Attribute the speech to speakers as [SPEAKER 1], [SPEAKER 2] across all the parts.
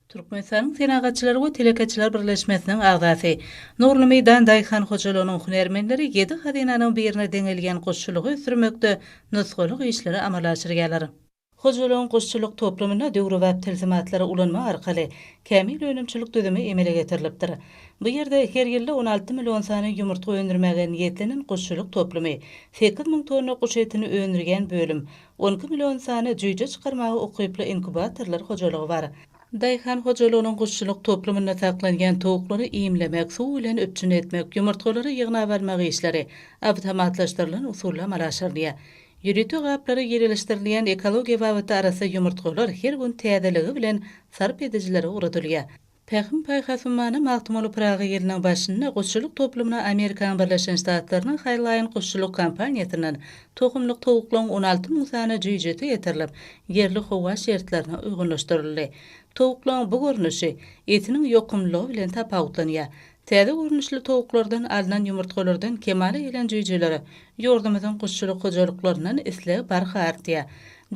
[SPEAKER 1] Türkmenistanyň Senagatçylar we telekeçiler birleşmesiniň agzasy, Nurly meýdan daýhan hojalygynyň hünärmenleri ýedi hazynanyň birine deňelýän guşçulygy ösdürmekde nusgalyk işleri amala aşyrýarlar. Hojalygyň guşçulyk toplumynda döwrebap tilsimatlary ulanmak arkaly kämil önümçilik düzümi emele getirilipdir. Bu ýerde her ýylda on alty million sany ýumurtga öndürmäge niýetlenen guşçulyk toplumy, sekiz müň tonna guş etini öndürýän bölüm, On iki million sany jüýje çykarmaga ukyply inkubatorlar hojalygy bar. Daýhan hojalygynyň guşçulyk toplumynda saklanýan towuklary iýmlemek, suw bilen üpjün etmek, ýumurtgalary ýygnap almak işleri awtomatlaşdyrylan usulda amala aşyrylýar. Ýörite gaplara ýerelişdirilýän ekologiýa babatda arassa ýumurtgalar her gün täzeligi bilen sarp edijilere ugradylýar. Pähim-paýhas ummany Magtymguly Pyragy ýylynyň başynda guşçulyk toplumyna Amerikanyň Birleşen Ştatlarynyň Haýlaýyn guşçulyk kompaniýasyndan tohumlyk towuklaryň on alty müň sany jüýjesi getirilip, ýerli howa şertlerine uýgunlaşdyryldy. Towuklaryň bu görnüşi etiniň ýokumlylygy bilen tapawutlanýar. Täze görnüşli towuklardan alnan ýumurtgalardan kemala gelen jüýjelere ýurdumyzyň guşçulyk hojalyklaryndan isleg barha artýar.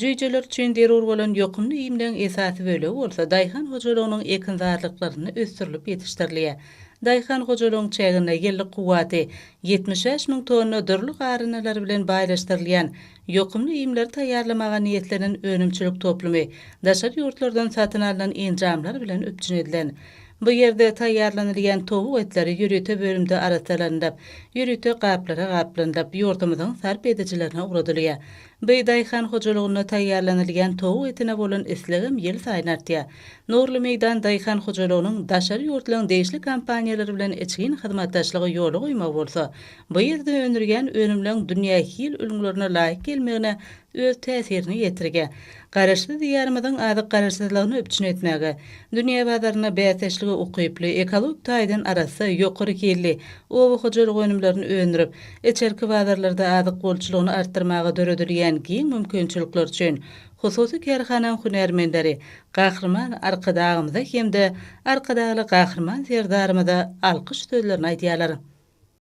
[SPEAKER 1] Jüýjeler üçin zerur bolan ýokumly iýmleň esasy bölegi bolsa daýhan hojalygynyň ekinzarlyklarynda ösdürilip ýetişdirilýär. Daýhan hojalygyň çäginde ýyllyk kuwwaty ýetmiş bäş müň tonna dürli garyndalar bilen baýlaşdyrylýan ýokumly iýmleri taýýarlamaga niýetlenen önümçilik toplumy daşary ýurtlardan satyn alnan enjamlar bilen üpjün edilen Bu ýerde taýýarlanylýan towuk etleri ýörite bölümde arassalanylyp, ýörite gaplara gaplanylyp, ýurdumyzyň sarp edijilerine ugradylýar. By daýhan hojalygynda taýýarlanylýan towuk etine bolan islegem ýylsaýyn artýar. Nurly meýdan daýhan hojalygynyň daşary ýurtlaryň degişli kompaniýalary bilen içgin hyzmatdaşlygy ýola goýmagy bolsa, bu ýerde öndürýän önümleriň dünýä hil ülňülerine laýyk gelmegine öz täsirini ýetirýär. Garaşsyz Diýarymyzyň azyk garaşsyzlygyny üpjün etmäge, dünýä bazarynda bäsdeşlige ukyply, ekologik taýdan arassa, ýokary hilli oba hojalyk önümlerini öndürip, içerki bazarlarda azyk bolçulygyny artdyrmaga döredilýän giň mümkinçilikler üçin hususy kärhanaň hünärmenleri Gahryman Arkadagymyza hem-de Arkadagly Gahryman Serdarymyza alkyş sözlerini aýdýarlar.